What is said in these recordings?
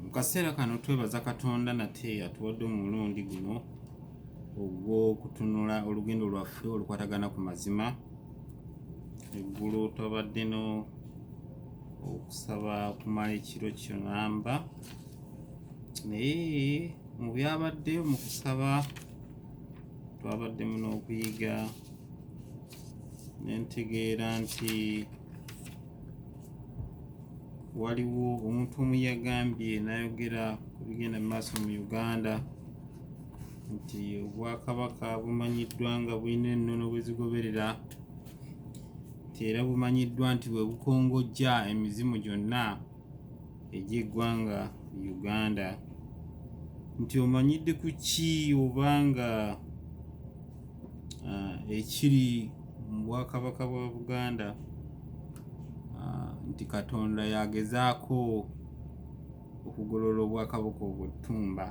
mu kaseera kano twebaza katonda nate atuwadde omulundi guno ogw'okutunula olugendo lwaffe olukwatagana ku mazima eggulu twabadde no okusaba okumala ekiro kyonamba naye mu byabadde mu kusaba twabaddemu n'okuyiga nentegeera nti waliwo omuntu omu yagambye n'ayogera ku bigenda mu maaso mu uganda nti obwakabaka bumanyiddwa nga bulina ennono bwe zigoberera nti era bumanyiddwa nti bwe bukongojja emizimu gyonna egy'eggwanga uganda nti omanyidde ku ki obanga uh, ekiri mu bwakabaka bwa Buganda uh, nti Katonda yagezaako okugolola obwakabaka obuttumba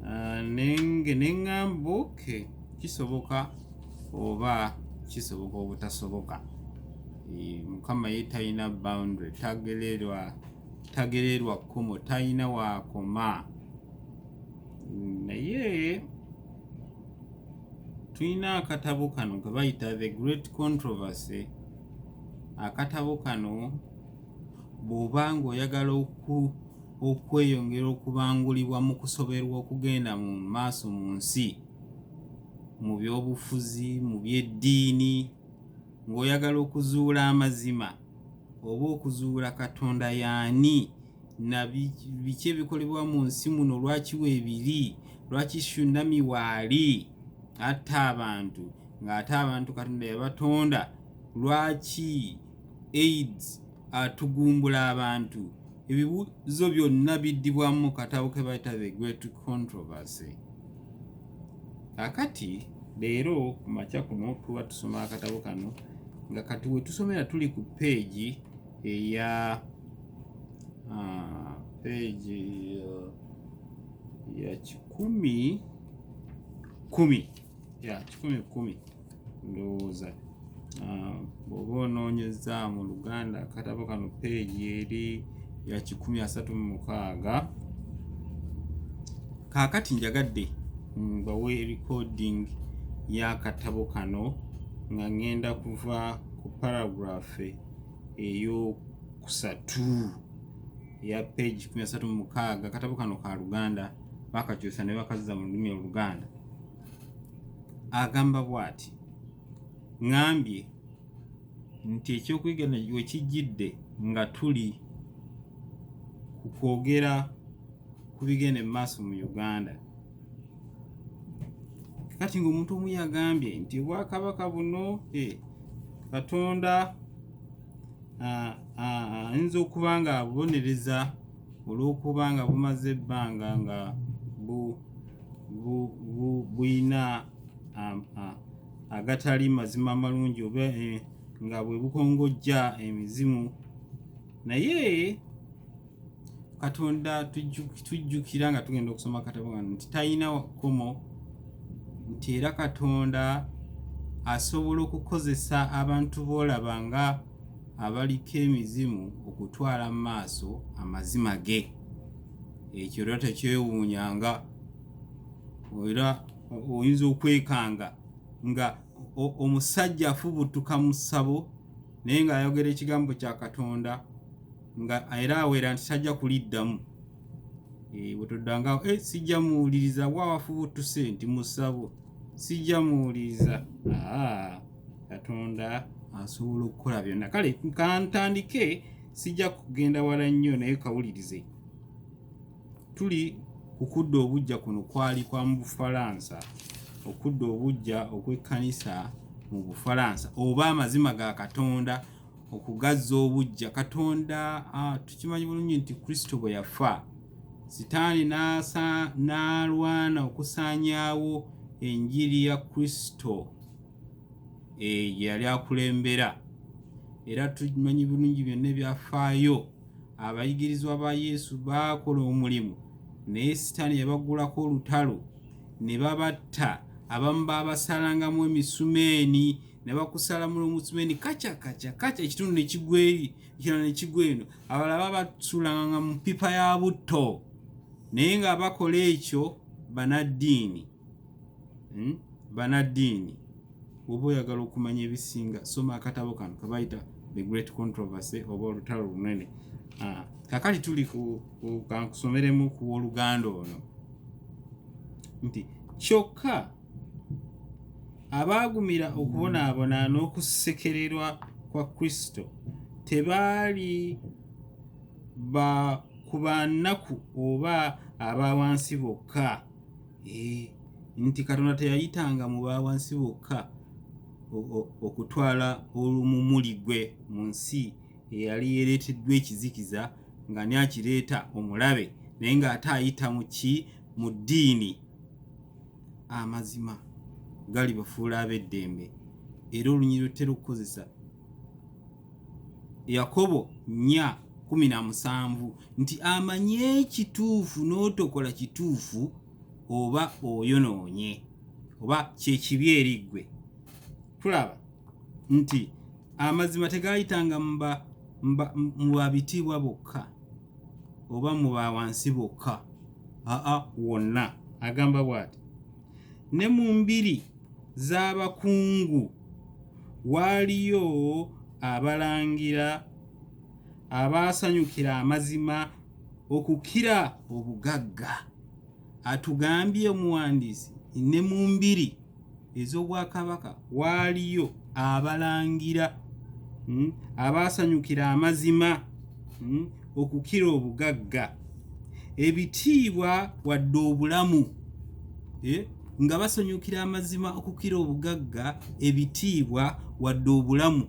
uh, nenge neŋŋamba oke kisoboka oba kisoboka obutasoboka e, mukama ye talina boundary tagererwa tagererwa kkomo talina waakoma naye tulina akatabo kano ke bayita the great controversy akatabo kano bw'oba ng'oyagala okweyongera okubangulibwa mu kusoberwa okugenda mu maaso mu nsi mu by'obufuzi mu by'eddiini ng'oyagala okuzuula amazima oba okuzuula katonda yaani na biki ebikolebwa mu nsi muno lwaki weebiri lwaki shunami waali atta abantu ng'ate abantu katonda yabatonda lwaki aids atugumbula abantu ebibuuzo byonna biddibwamu mu katabo ke bayita the great controversy akati leero ku makya kuno tuba tusoma akatabo kano nga kati wetusomera tuli ku peegi eya Ah, peji ya, ya kikumi kumi ya kikumi kumi ndowooza ah, bw'oba onoonyeza mu luganda akatabo kano peegi eri ya kikumi asatu mu mukaaga kaakati njagadde mbawe mm, recording y'akatabo kano nga ngenda kuva ku paragraph eyo kusatu ya page kumi asatu mu mukaaga akatabo kano ka luganda bakakyusa ne bakazza mu lulimi oluganda agamba bw'ati ŋambye nti ekyokuyiga we kijjidde nga tuli ku kwogera ku bigenda mu maaso mu uganda kati ng'omuntu omu yagambye nti obwakabaka buno eh, katonda ayinza okuba nga bubonereza olw'okuba nga bumaze ebbanga nga buyina agatali mazima amalungi oba eh, nga bwe bukongojja emizimu naye katonda tujjukira nga tugenda okusoma akatabo kano nti talina kkomo nti era katonda asobola okukozesa abantu boolaba nga abaliko emizimu okutwala mu maaso amazima ge ekyo era tekyewuunyanga era oyinza okwekanga nga omusajja afubutuka mu ssabo naye ng'ayogera ekigambo kya katonda nga era awera nti tajja kuliddamu eh, wetodanga eh, sijja muwuliriza wawafuba otuse nti musabo sijja muwuliriza ah, katonda asobola okukola byonna kale kantandike sijja kugenda wala nnyo naye kawulirize tuli kukudda obujja kuno kwali kwa mu bufalansa okudda obujja okw'ekkanisa mu bufalansa oba amazima ga katonda okugazza obuggya katonda tukimanyi bulungi nti kristo bwe yafa sitaani n'alwana okusaanyaawo enjiri ya kristo gye eh, yali akulembera era tumanyi bulungi byonna ebyafaayo abayigirizwa ba yesu baakola omulimu naye sitaani yabagulako olutalo ne babatta abamu baabasalangamu emisumeeni ne bakusalamula omutima eni kaca kaca kaca ekitundu ne kigwa eri ekirala ne kigwa eno abalala baba basuulanga mu ppipa ya butto naye nga bakola ekyo banaddiini hmm? banaddiini oba oyagala okumanya ebisinga soma akatabo kano kebayita the great controversy oba olutalo lunene ah, kakati tuli kankusomeremu ku woluganda ono nti kyokka Abaagumira okubonaabona n'okusekererwa kwa Kristo tebaali ba ku ba nnaku oba aba wansi bokka. Eh, nti Katonda teyayitanga mu ba wansi bokka okutwala olumumuli gwe mu nsi eyali yereeteddwa ekizikiza nga ni akireeta omulabe naye ng'ate ayita mu ki mu ddiini amazima galibafuula ab'eddembe era olunyiriro terukukozesa yakobo nya kumi na musanvu nti amanyi ekituufu n'otokola kituufu oba oyonoonye oba kyekibi eriggwe tulaba nti amazima tegayitanga mu babitiibwa bokka oba mu bawansi bokka aa wonna agamba bw'ati ne mu mbiri z'abakungu waaliyo abalangira abaasanyukira amazima okukira obugagga atugambye omuwandiisi ne mu mbiri ez'obwakabaka waaliyo abalangira hmm, abaasanyukira amazima hmm, okukira obugagga ebitiibwa wadde obulamu eh, nga basanyukira amazima okukira obugagga ebitiibwa wadde obulamu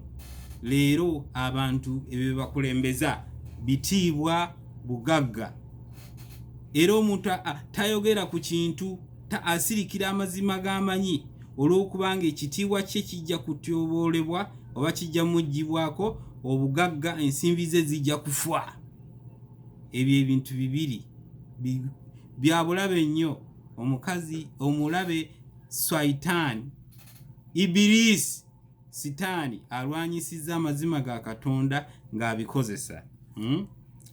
leero abantu ebyo bebakulembeza bitiibwa bugagga era omuntu tayogera ku kintu Ta asirikira amazima g'amanyi olw'okubanga ekitiibwa kye kijja kutyoboolebwa oba kijja muggyibwako obugagga ensimbi ze zijja kufa ebyo ebintu bibiri byabulabe nnyo omukazi omulabe saitaani ibiriisi sitaani alwanyisizza amazima ga katonda ng'abikozesa hmm?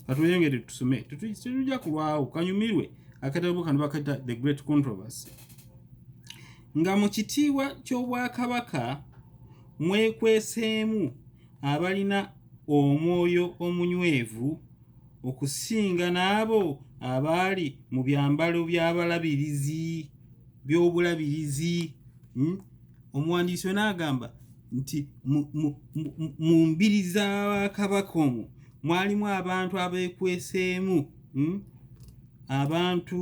katweyongere tusome tetujja kulwawo kanyumirwe akatabo kano bakayita the great controversy nga mu kitiibwa ky'obwakabaka mwekweseemu abalina omwoyo omunywevu okusinga n'abo abaali mu byambalo by'abalabirizi by'obulabirizi hmm? omuwandiisi ona agamba nti mu mbiri za bakabaka omwo mwalimu abantu abeekweseemu hmm? abantu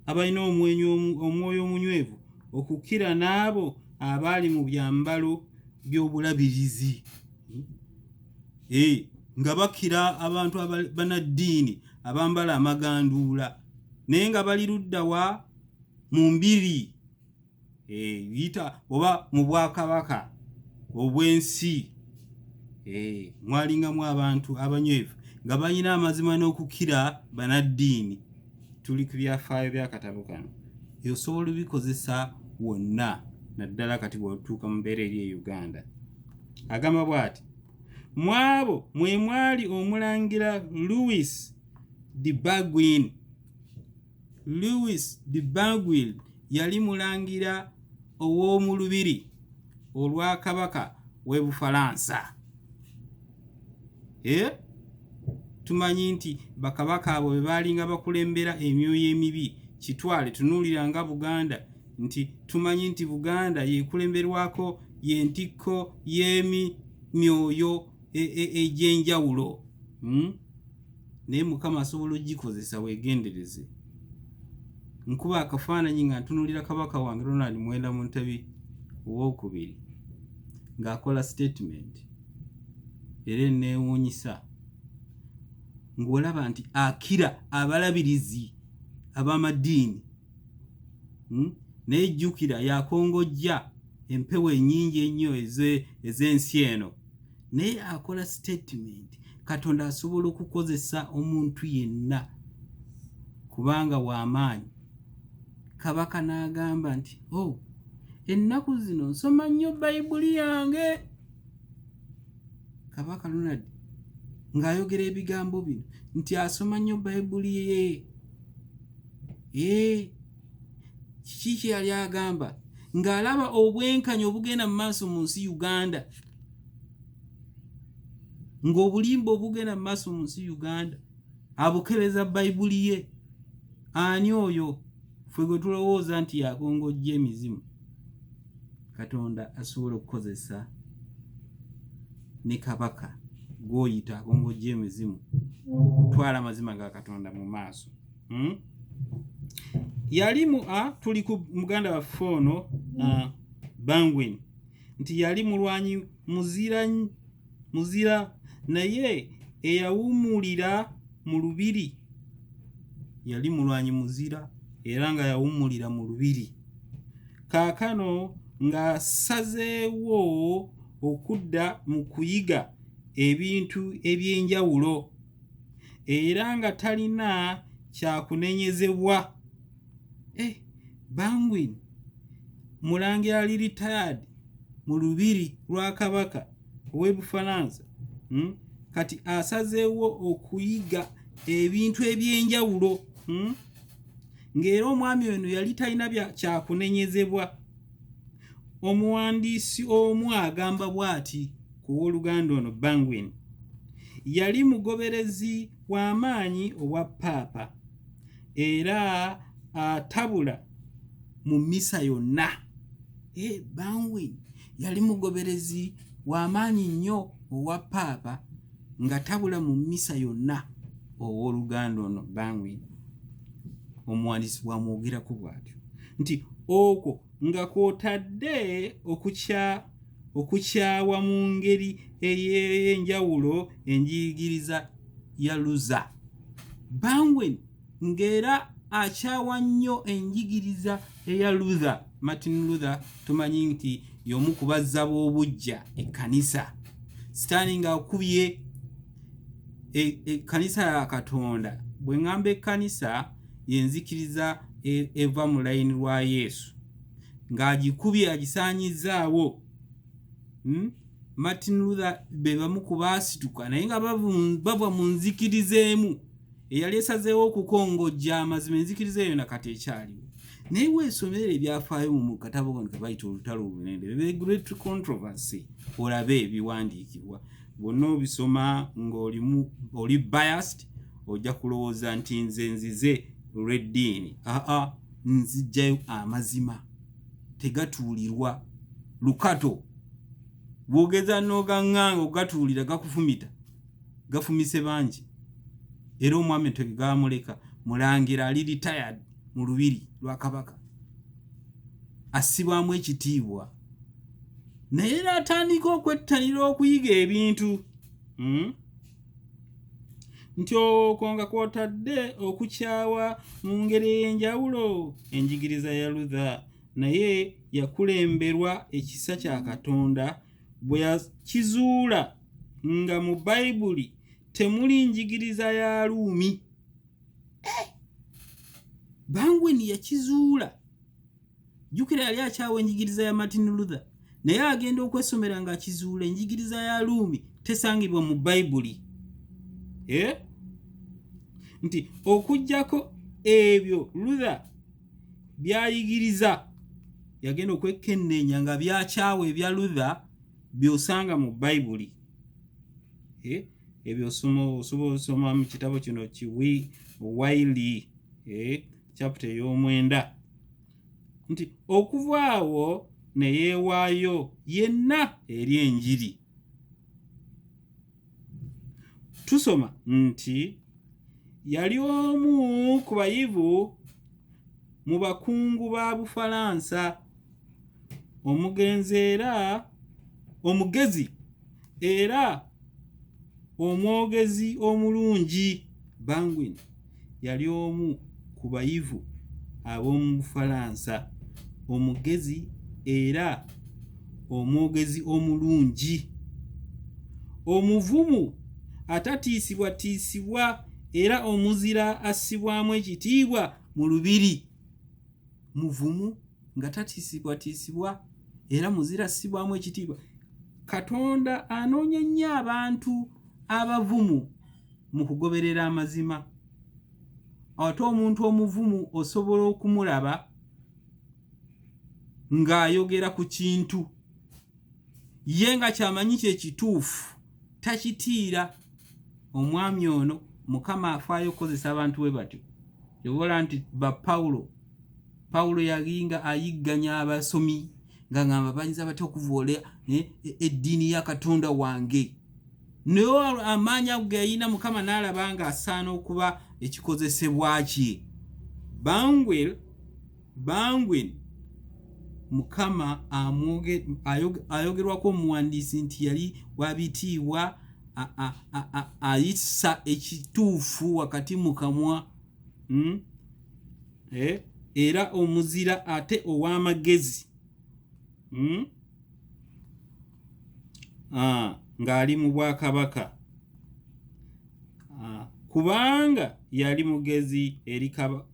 abalina omwenyi omwoyo omunywevu okukira n'abo abaali mu byambalo by'obulabirizi eh, nga bakira abantu banaddiini abambala amaganduula naye nga bali luddawa mu mbiri eh, yita oba mu bwakabaka obw'ensi eh, mwalingamu abantu abanywevu nga balina amazima n'okukira banaddiini tuli ku byafaayo byakatabo kano osobola obikozesa wonna naddala kati bwetuuka mu mbeera eri e uganda agamba bw'ati mu abo mwe mwali omulangira louis de bagwin louis de bagwin yali mulangira ow'omu lubiri olwa kabaka w'e bufalansa e tumanyi nti bakabaka abo be baalinga bakulembera emyoyo emibi kitwale tunuulira nga buganda nti tumanyi nti buganda yekulemberwako yentikko yemi myoyo egyenjawulo e, e, hmm? naye mukama asobola ogikozesa wegendereze nkuba akafaananyi nga ntunulira kabaka wange ronald mwenda mu ntabi owokubiri ng'akola statement era eneewuunyisa ng'olaba nti akira abalabirizi ab'amadiini hmm? naye jjukira yakongojja empewo enyingi ennyo ez'ensi eno naye akola sitatimenti katonda asobola okukozesa omuntu yenna kubanga wamaanyi kabaka n'agamba nti o oh, ennaku zino nsoma nnyo bayibuli yange kabaka lunad ng'ayogera ebigambo bino nti asoma nnyo bayibuli ye ee kiki kye yali agamba ng'alaba obwenkanya obugenda mu maaso mu nsi uganda ng'obulimba obugenda mu maaso mu nsi uganda abukebeza bayibuli ye ani oyo ffe gwe tulowooza nti yakongojja emizimu katonda asobola okukozesa ne kabaka gwoyita akongojja emizimu okutwala amazima ga katonda mu maaso hmm? yalimu a tuli ku muganda waffe ono bangwin nti yali mulwanyi muzira muzira naye eyawumulira mu lubiri yali mulwanyi muzira era nga yawumulira mu lubiri kaakano ng'asazeewo okudda mu kuyiga ebintu eby'enjawulo era nga talina kyakunenyezebwa eh, bangwin mulangira ali retired mu lubiri lwa kabaka ow'ebufalansa hmm? kati asazeewo okuyiga ebintu eby'enjawulo hmm? ng'era omwami ono yali talina kyakunenyezebwa Omuwandiisi omu agamba bw'ati ku w'oluganda ono Bangwin, Yali mugoberezi wa maanyi owa Paapa era atabula mu mmisa yonna. Hey, eh, Bangwin yali mugoberezi wa maanyi nnyo owa Paapa nga tabula mu mmisa yonna ow'oluganda ono Bangwin. Omuwandiisi bw'amwogerako bw'atyo. nti okwo nga kwotadde okukya okukyawa mu ngeri ey'enjawulo enjigiriza ya luza banwen ng'era akyawa nnyo enjigiriza eya luther martin luther tumanyi nti y'omu kubazza b'obujja ekkanisa sitaani ng'akubye ekkanisa e, ya katonda bwe ŋŋamba ekkanisa yenzikiriza e, eva mu layini lwa yesu ng'agikubye agisaanyizzaawo hmm? martin luther be bamu ku baasituka naye nga bava mu nzikiriza emu eyali esazeewo okukongojja amazima enzikiriza eyo na kati ekyaliwo naye weesomera ebyafaayo mu katabo kano ke bayita olutalo olunene the great controversy olabe ebiwandiikibwa bwonna obisoma ng'olimu oli biased ojja kulowooza nti nze nzize olw'eddiini aa nzijjayo amazima tegatuulirwa lukato bwogeza n'ogaŋŋanga okugatuulira gakufumita gafumise bangi era omwami tege gaamuleka mulangira ali retired mu lubiri lwa kabaka assibwamu ekitiibwa naye n'atandika okwettanira okuyiga ebintu hmm? nti okwo nga kwotadde okukyawa mu ngeri ey'enjawulo enjigiriza ya lutha naye yakulemberwa ekisa kya katonda bwe yakizuula nga mu bayibuli temuli njigiriza ya luumi eh! bangweni yakizuula jjukira yali akyawa enjigiriza ya martin luther naye agenda okwesomera nga akizuula enjigiriza ya luumi tesangibwa mu bayibuli eh? nti okugyako ebyo luther byayigiriza yagenda okwekenneenya nga byakyawa ebya luther byosanga mu bayibuli eh? ebyo osobola osoma mu kitabo kino kiwi waili eh? chapita ey'omwenda nti okuva awo ne yeewaayo yenna eri enjiri tusoma nti yali omu ku bayivu mu bakungu ba bufalansa omugenzi era omugezi era omwogezi omulungi banguin yali omu ku bayivu ab'omu bufalansa omugezi era omwogezi omulungi omuvumu atatiisibwatiisibwa era omuzira assibwamu ekitiibwa mu lubiri muvumu nga tatiisibwatiisibwa era muzira ssibwamu ekitiibwa katonda anoonya nnyo abantu abavumu mu kugoberera amazima ate omuntu omuvumu osobola okumulaba ng'ayogera ku kintu ye nga kyamanyi kyekituufu takitiira omwami ono mukama afaayo okukozesa abantu bwe batyo yobola nti ba pawulo pawulo yalinga ayigganya abasomi nga ngamba bayinza batya okuvoola eh, eh, eddiini ya katonda wange naye amaanyi ago geyalina mukama n'alaba nga asaana okuba ekikozesebwa kye bangwel bangwen mukama ayogerwako omuwandiisi nti yali wabitiibwa ayisa ekituufu wakati mu kamwa hmm? eh, era omuzira ate ow'amagezi hmm? ah, ng'ali mu bwakabaka ah, kubanga yali mugezi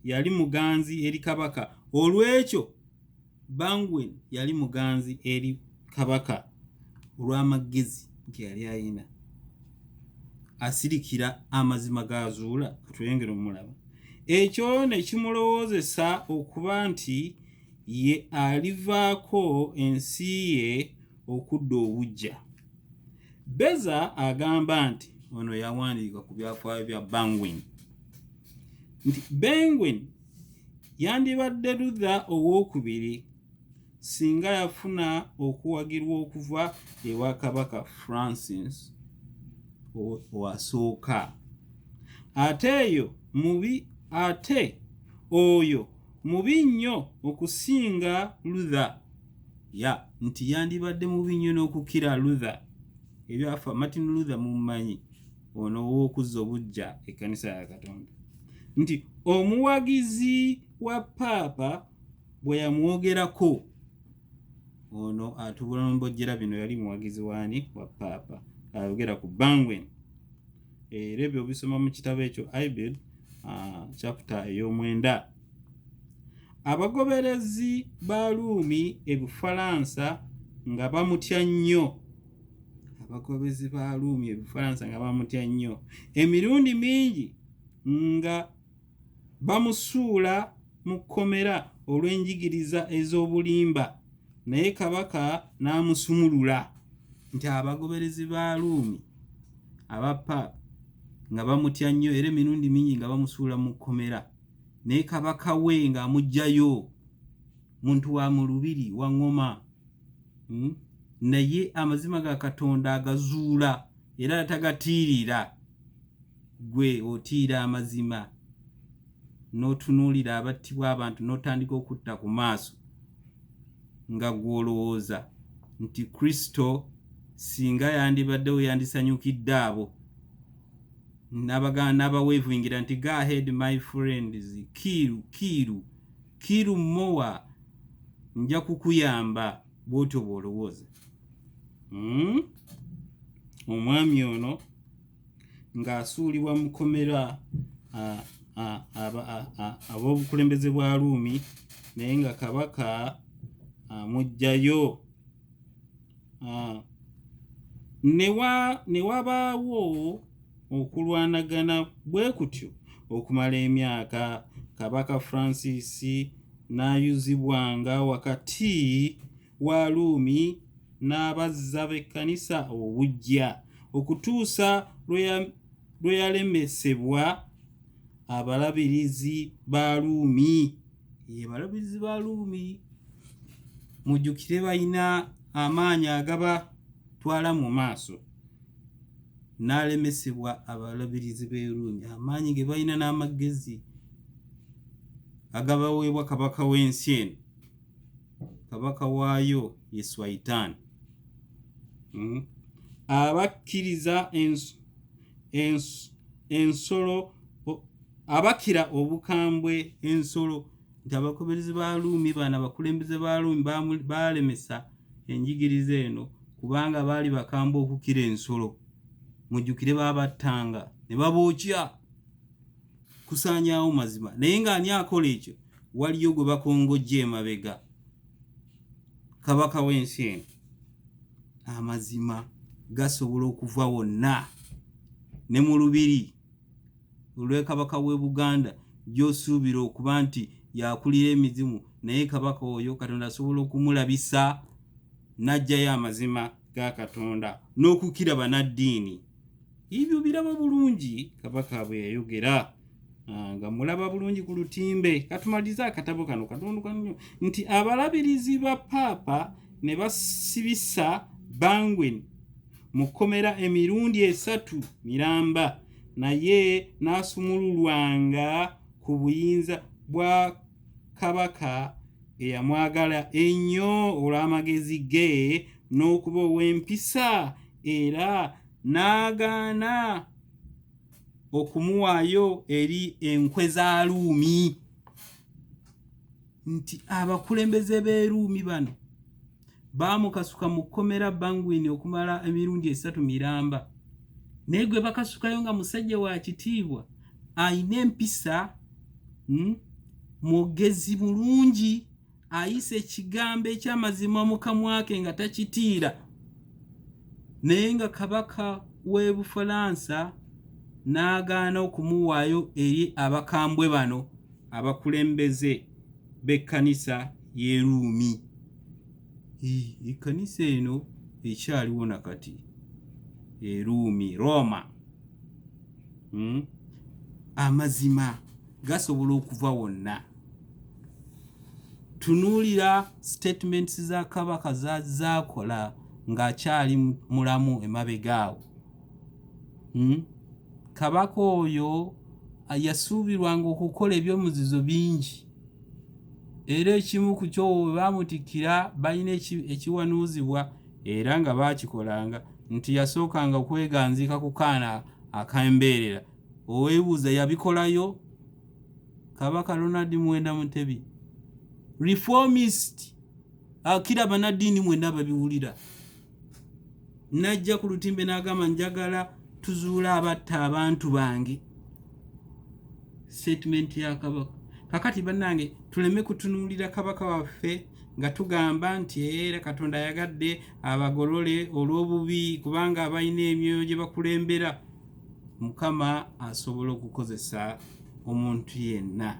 yali muganzi eri kabaka olw'ekyo Bangwen yali muganzi eri Kabaka olw'amagezi nti yali ayina asirikira amazima g'azuula katulengera omulaba ekyo ne kimulowoozesa okuba nti ye alivaako ensi ye okudda obujja beza agamba nti ono yawandiika ku byafaayo bya bangwen nti bangwen Yandibadde Luther ow'okubiri singa yafuna okuwagirwa okuva ewa Kabaka Francis owasooka. Ate eyo mubi ate oyo mubi nnyo okusinga Luther. Ya nti yandibadde mubi nnyo n'okukira Luther. Ebyafa Martin Luther mummanyi. ono ow'okuzza obuggya ekkanisa ya katonda nti omuwagizi wa paapa bwe yamwogerako ono atubula nombojjera bino yali muwagizi waani wa paapa ayogera ku bangwen era ebyo bisoma mu kitabo ekyo ibel ah, chapita ey'omwenda abagoberezi ba luumi ebufalansa nga bamutya nnyo abagoberezi ba Ruumi ebifalansa nga bamutya nnyo emirundi mingi nga bamusuula mu kkomera olw'enjigiriza ez'obulimba naye kabaka n'amusumulula nti abagoberezi ba Ruumi aba paapa nga bamutya nnyo era emirundi mingi nga bamusuula mu kkomera naye kabaka we ng'amugjayo muntu wa mu lubiri wa ŋŋoma hmm? naye amazima ga katonda agazuula era atagatiirira gwe otiira amazima n'otunuulira abattibwa abantu n'otandika okutta ku maaso nga gw'olowooza nti kristo singa yandibaddewo yandisanyukidde abo n'abaweevuingira nti go ahead my friends kiiru kiiru Kill Moa nja kukuyamba bwotyo bwolowooza hmm? omwami ono ng'asuulibwa mu kkomera ab'obukulembeze bwa Ruumi naye nga kabaka amugjayo ah, ne wabaawo okulwanagana bwe kutyo okumala emyaka kabaka francis n'ayuzibwanga wakati wa luumi n'abazza b'ekkanisa obujja okutuusa lwe yalemesebwa abalabirizi ba luumi ye balabirizi ba luumi mujjukire balina amaanyi agaba twala mu maaso n'alemesebwa abalabirizi b'eruumi amaanyi ge balina n'amagezi agabaweebwa kabaka w'ensi eno kabaka waayo ye swaitaani hmm? abakkiriza ensolo abakira obukambwe ensolo nti abakoberezi ba luumi baana abakulembeze ba luumi baalemesa enjigiriza eno kubanga baali bakambwe okukira ensolo mujjukire baabattanga ne babookya kusaanyaawo mazima naye ng'ani akola ekyo waliyo gwe bakongojja emabega kabaka w'ensi eno amazima gasobola okuva wonna ne mu lubiri olwekabaka w'e buganda gy'osuubira okuba nti yakulira emizimu naye kabaka oyo katonda asobola okumulabisa n'ajjayo amazima ga katonda n'okukira banaddiini Ebyo biraba bulungi kabaka bwe yayogera ah, nga mulaba bulungi ku lutimbe. Katumalize akatabo kano katonduka nnyo nti abalabirizi ba paapa ne basibisa Bangwen mu kkomera emirundi esatu miramba naye n'asumululwanga ku buyinza bwa kabaka eyamwagala ennyo olw'amagezi ge n'okuba ow'empisa era n'agaana okumuwaayo eri enkwe za luumi nti abakulembeze b'eruumi bano baamukasuka mu kkomera bangwini okumala emirundi esatu miramba naye gwe bakasukayo nga musajja wa kitiibwa alina empisa hmm, mwogezi bulungi ayisa ekigambo ekyamazima mu kamwa ke nga takitiira naye nga kabaka w'e bufalansa n'agaana okumuwaayo eri abakambwe bano abakulembeze b'ekkanisa y'eruumi ekkanisa eno ekyaliwo na kati eruumi rooma hmm? amazima gasobola okuva wonna tunuulira statements za kabaka zaakola ng'akyali mulamu emabega awo hmm? kabaka oyo yasuubirwanga okukola ebyomuzizo bingi era ekimu ku kyo we baamutikkira balina ekiwanuuzibwa era nga baakikolanga nti yasookanga okweganziika ku kaana akambeerera oweebuuza yabikolayo kabaka ronald mwenda mutebi reformist akira ah, banaddiini mwena babiwulira najja ku lutimbe n'agamba njagala tuzuula abatta abantu bange statement ya kabaka kakati bannange tuleme kutunuulira kabaka waffe nga tugamba nti era katonda ayagadde abagolole olw'obubi kubanga balina emyoyo gye bakulembera mukama asobola okukozesa omuntu yenna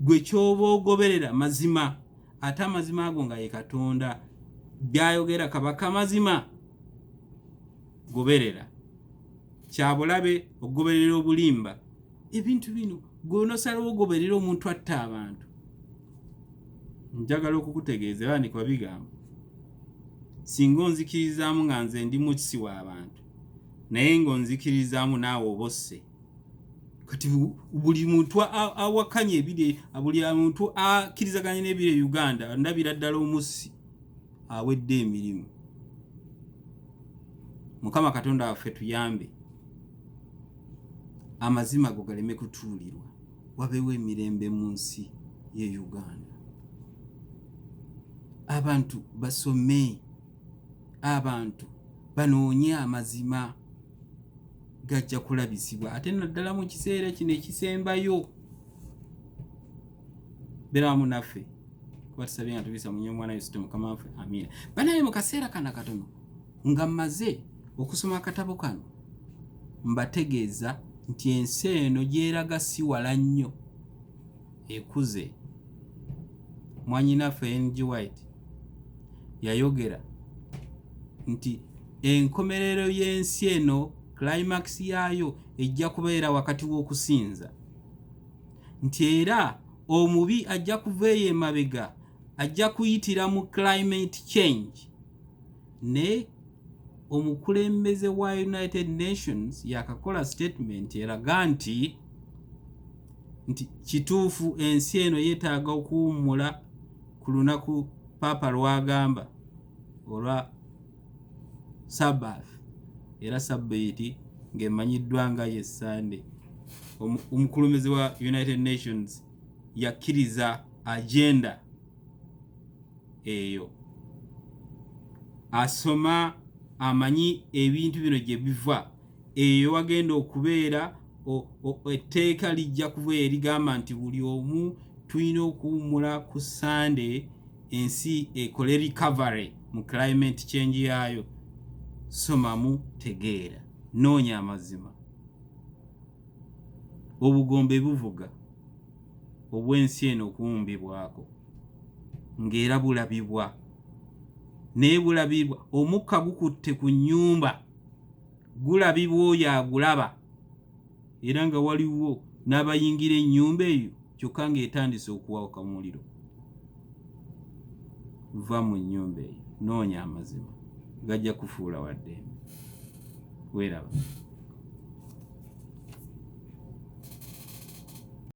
gwe kyoba ogoberera mazima ate amazima ago nga ye katonda byayogera kabaka mazima goberera kyabulabe okugoberera obulimba ebintu bino gwenosalawo ogoberera omuntu atta abantu njagala okukutegeeza era ndikuba bigambo singa onzikirizaamu nga nze ndi mukisi w'abantu naye nga onzikirizaamu naawe oba osse kati buli muntu awakanya ebiri buli muntu akkirizaganya n'ebiri e uganda ndabira ddala omussi awedde emirimu mukama katonda waffe tuyambe amazima go galeme kutuulirwa wabeewo emirembe mu nsi ye uganda abantu basome abantu banoonye amazima gajja kulabisibwa ate naddala mu kiseera kino ekisembayo berawamu naffe kuba tusabye nga tubisa munye omwana yosito mukama waffe amiina banaye mu kaseera kana katono nga mmaze okusoma akatabo kano mbategeeza nti ensi eno gyeraga siwala nnyo ekuze mwanyinaffe ng white yayogera nti enkomerero y'ensi eno climax yaayo ejja kubeera wakati w'okusinza nti era omubi ajja kuva eyo emabega ajja kuyitira mu climate change ne omukulembeze wa united nations yakakola statement eraga nti nti kituufu ensi eno yeetaaga okuwummula ku lunaku paapa lwagamba olwa sabbath era sabbiiti ng'emanyiddwa nga ye sande omukulumizi wa united nations yakkiriza agenda eyo asoma amanyi ebintu bino gye biva eyo wagenda okubeera etteeka lijja kuba erigamba nti buli omu tulina okuwummula ku sande ensi ekole recovery mu climate change yaayo somamu tegeera noonya amazima obugombe buvuga obw'ensi eno okuwumbibwako ng'era bulabibwa naye bulabibwa omukka gukutte ku nnyumba gulabibwa oyo agulaba era nga waliwo n'abayingira ennyumba eyo kyokka ng'etandise okuwawuka mu muliro va mu nnyumba eyo noonya amazima gajja kufuula waddembe weeraba